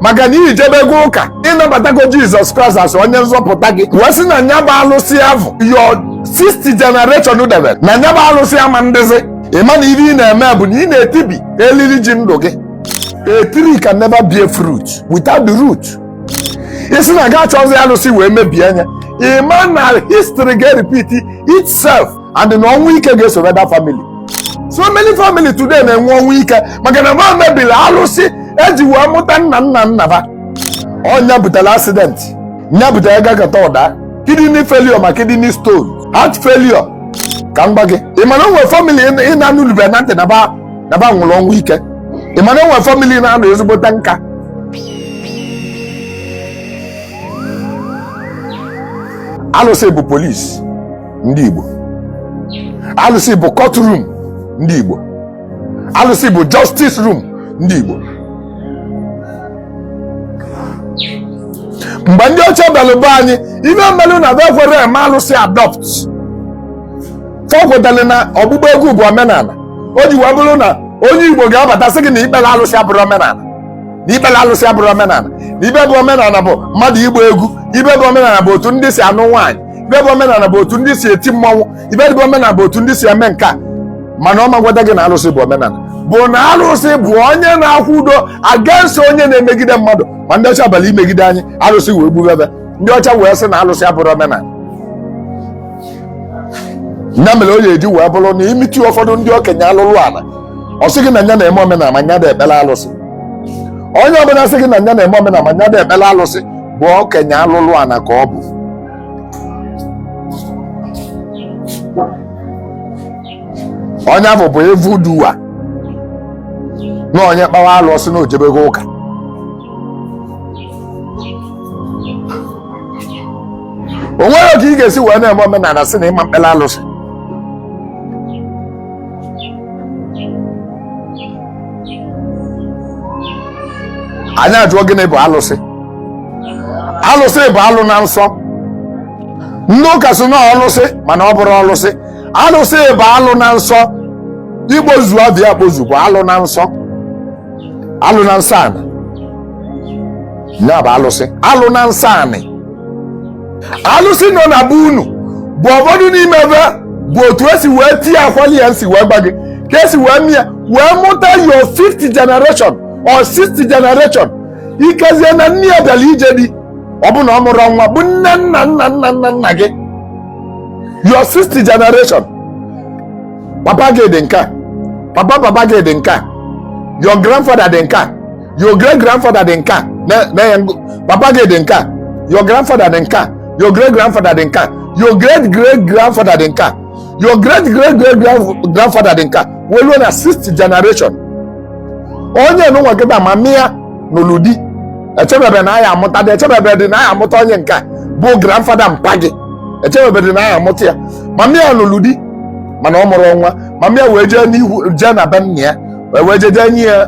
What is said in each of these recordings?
maka na i jebego ụka ịnabatago jizọs kraịst as onye nzọpụta gị wee sị na nya bụ alụsị avụ your 60th generation debere na nya bụ alụsị ama ndịzi ịma na ihe ị na-eme bụ na ị na-etibi elili ji ndụ gị a tree can never bear fruit without the root ị sị na ga achọzi alụsị wee mebie anya ịma na history ga-repeat itself and na ọnwụ ike ga-esoro that family so many family today na-enwe ọnwụ ike maka na ba mebiri alụsị eji wee mụta nna nna nna ba nya butere accident nya butere gagata ụda kidney failure ma kidney stone heart failure ka m gba gị ị ma na o nwe family ị na-anụlube na ntị na ba nwụrụ ọnwụ ike ị ma na o nwe family na-anụ ezigbote nka alụsị bụ police ndị Igbo alụsị bụ court room ndị Igbo alụsị bụ justice room ndị Igbo mgbe ndị ọcha bịara be anyị ibe melụ na be kwere eme alụsị adopt fa kwetara na ọgbụgba egwu bụ omenala o ji wee bụrụ na onye Igbo ga-abata sị gị na ikpere alụsị abụrọ omenala na ikpere alụsị abụrọ omenala na ibe bụ omenala bụ mmadụ ịgba egwu ibe bụ omenala bụ otu ndị si anụ nwaanyị ibe bụ omenala bụ otu ndị si eti mmanwụ ibe bụ omenala bụ otu ndị si eme nke a mana ọ magwada gị na arụsị bụ omenala bụ na arụsị bụ onye na-akwụdo against onye na-emegide mmadụ ma ndị ọcha bịalụ imegide anyị arụsị wee gbube be ndị ọcha wee sị na arụsị abụrọ omenala ya mere o ji wee bụrụ na i meet ụfọdụ ndị okenye alụlụ ana ọ sị gị na nya na-eme omenala ma nya da ekpere alụsị onye ọbụla sị gị na nya na-eme omenala ma nya da ekpere alụsị bụ okenye alụlụ ana ka ọ bụ onye ahụ bụ evil doer na onye kpawa alụsị na o jebego ụka o nwerọ ka ị ga-esi wee na-eme omenala sị na ị ma mkpere alụsị anyị ajụọ gịnị bụ alụsị alụsị bụ alụ na nsọ ndị ụka sị na ọlụsị mana ọ bụrọ ọlụsị alụsị bụ alụ na nsọ igbozu abịa akpozu bụ alụ na nsọ alụ na nsọ anị nya bụ alụsị alụ na nsọ anị alụsị nọ na be unu bụ ụfọdụ n'ime ebe bụ otu esi wee tie akwali ya nsi wee gba gị ka esi wee mie wee mụta your fifth generation or sixth generation ikezie na nne ya bịara ije di ọ bụ na ọ mụrụ nwa bụ nne nna nna nna nna nna gị your sixth generation papa gị dị nke a papa papa gị dị nke a your grandfather dị nke a your great grandfather dị nka na-enye papa gị dị nka your grandfather dị nka your great grandfather dị nka your great great grandfather dị nka your great great great grandfather dị nka wee ruo na sixth generation onye nụnwa kịta ma mịa n'ụlụ di echebebe na a ya-amụta gị echebebe dị na a ya-amụta onye nke bụ grandfather mpa gị echebebe dị na a ya-amụta ya ma mịa n'ụlụ di mana ọ mụrụ nwa ma mịa wee jee n'ihu jee na be nna ya wee jee jee nye ya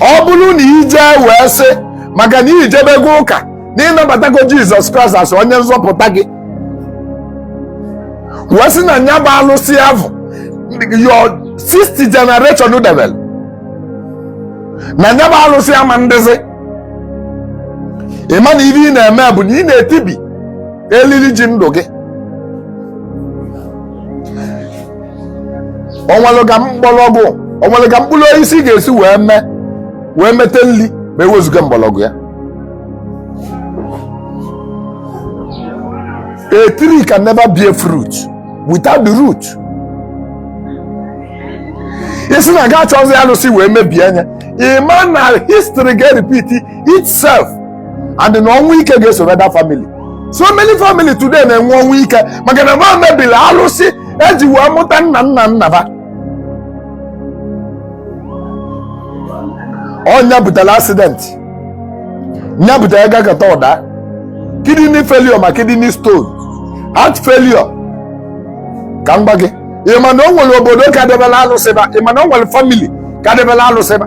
ọ bụrụ na i jee wee sị maka na i jebego ụka na ị nabatago jizọs kraịst as onye nzọpụta gị wee sị na nya bụ alụsị avụ your sixth generation debelụ na nya bụ alụsị ama ndịzi ị ma na ihe ị na-eme bụ na ị na-etibi elili ji ndụ gị o nwere ka mgbọrọgwụ o nwere ka mkpụrụ osisi ga-esi wee mee wee mete nri ma e wezuga mgbọrọgwụ ya a tree can never bear fruit without the root ị sị na ị ga-achọzi alụsị wee mebie nya ị ma na history ga-repeat itself and na ọnwụ ike ga-esoro that family so many family today na-enwe ọnwụ ike maka na ba mebiri alụsị e ji wee mụta nna nna nna ba ọ nya butere accident nya butere gagata ụda kidney failure ma kidney stone heart failure ka m gwa gị ị ma na o nwere obodo ka debela alụsị ba ị ma na o nwere family ka debela alụsị ba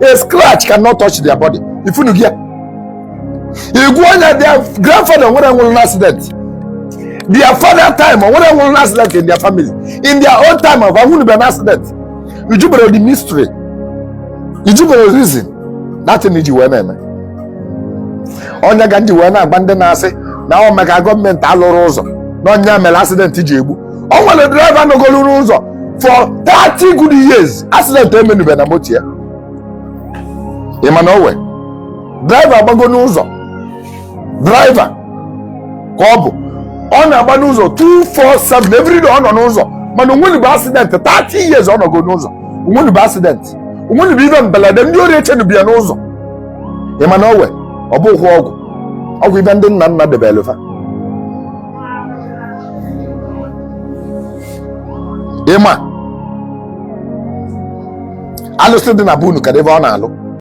a scratch cannot touch their body ifunu gị ya igwe onye their grandfather nwere nwụrụ n'accident their father time nwere nwụrụ n'accident in their family in their own time of anwụnube n'accident ị jụbere the mystery ị jụbere reason that thing ji wee na-eme ọ nya ka m ji wee na-agwa ndị na-asị na ọ maka gọọmenti alụrọ ụzọ na ọ nya mere accident ji egbu o nwere driver nọgoro n'ụzọ for 30 good years accident emenube na moto ya ị ma na o nwe driver agbago n'ụzọ driver ka ọ bụ ọ na-agba n'ụzọ 247 everyday ọ nọ n'ụzọ mana o nwenube accident 30 years ọ nọgo n'ụzọ o nwenube accident o nwenube ive mbelede ndị ori echenube ya n'ụzọ ị ma na o nwe ọ bụghị ọgwụ ọgwụ ive ndị nna nna debeelụ fa ị ma alụsị dị na be unu kee ive ọ na-alụ